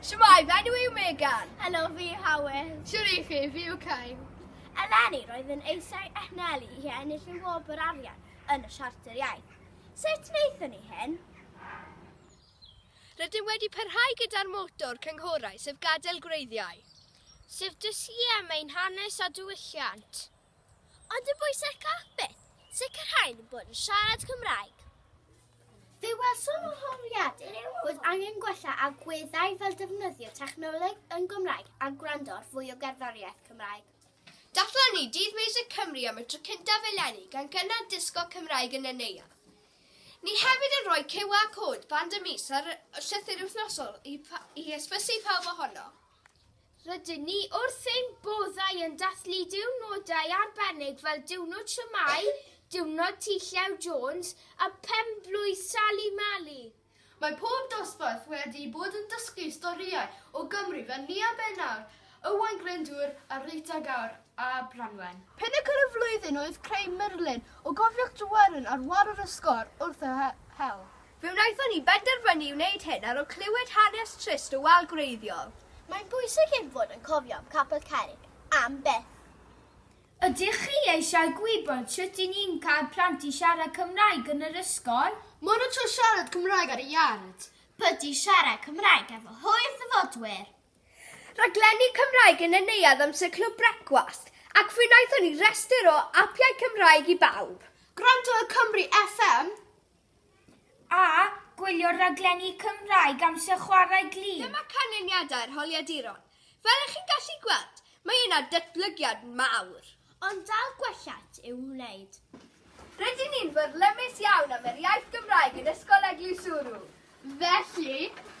Shwmae, fy enw yw Megan. Helo, fi yw Howell. Shwr i chi, fi yw Kyle. Eleni, roedd yn eisiau eich nelu i ennill y wobr arian yn y Siarter Iaith. Sut wnaethon ni hyn? Rydym wedi parhau gyda'r moto'r cynghorau, sef gadael gwreiddiau. Sef dysgu am ein hanes a diwylliant. Ond yn fwy sycach, beth? Sicrhau ein bod yn siarad Cymraeg. Fe welsom o holiadur bod angen gwella agweddau fel defnyddio technoleg yn Gymraeg a gwrando ar fwy o gerddoriaeth Cymraeg. Datblygu Dydd Miwsig Cymru am y tro cyntaf eleni gan gynnal disgo Cymraeg yn y neuadd. Ni hefyd yn rhoi QR code band y mis ar y llythyr wythnosol i, i hysbysu pawb ohono. Rydyn ni wrth ein boddau yn dathlu diwrnodau arbennig fel Diwrnod Siamai, Diwrnod Tŷ Llew Jones a Phenblwydd Sali Mali. Mae pob dosbarth wedi bod yn dysgu storïau o Gymru fel Nia Ben Awr, Ywain Glyndŵr a Rita Gawr a Branwen. Pinacl y flwyddyn oedd creu murlun o gofiwch Tryweryn ar wal yr ysgol wrth y hewl. Fe wnaethon ni benderfynu i wneud hyn ar ol clywed hanes trist y wal gwreiddiol. Mae'n bwysig ein fod yn cofio am Capel Cerrig am byth. Ydych chi eisiau gwybod sut i ni'n cael plant i siarad Cymraeg yn yr ysgol? Maen nhw'n trio siarad Cymraeg ar y iard. Pwdin siarad Cymraeg efo hwyr ddyfodwyr. Rhaglenni Cymraeg yn y neuadd amser Clwb Brecwast, ac fe wnaethon ni restr o apiau Cymraeg i bawb. Gwrando ar Cymru FM. a gwylio rhaglenni Cymraeg amser chwarae glin. Dyma canlyniadau'r holiaduron. Fel ych chi'n gallu gweld, mae yna datblygiad mawr. Ond dal gwelliant i'w wneud. Rydyn ni'n fyrlymus iawn am yr iaith Gymraeg yn Ysgol Eglwyswrw. Felly,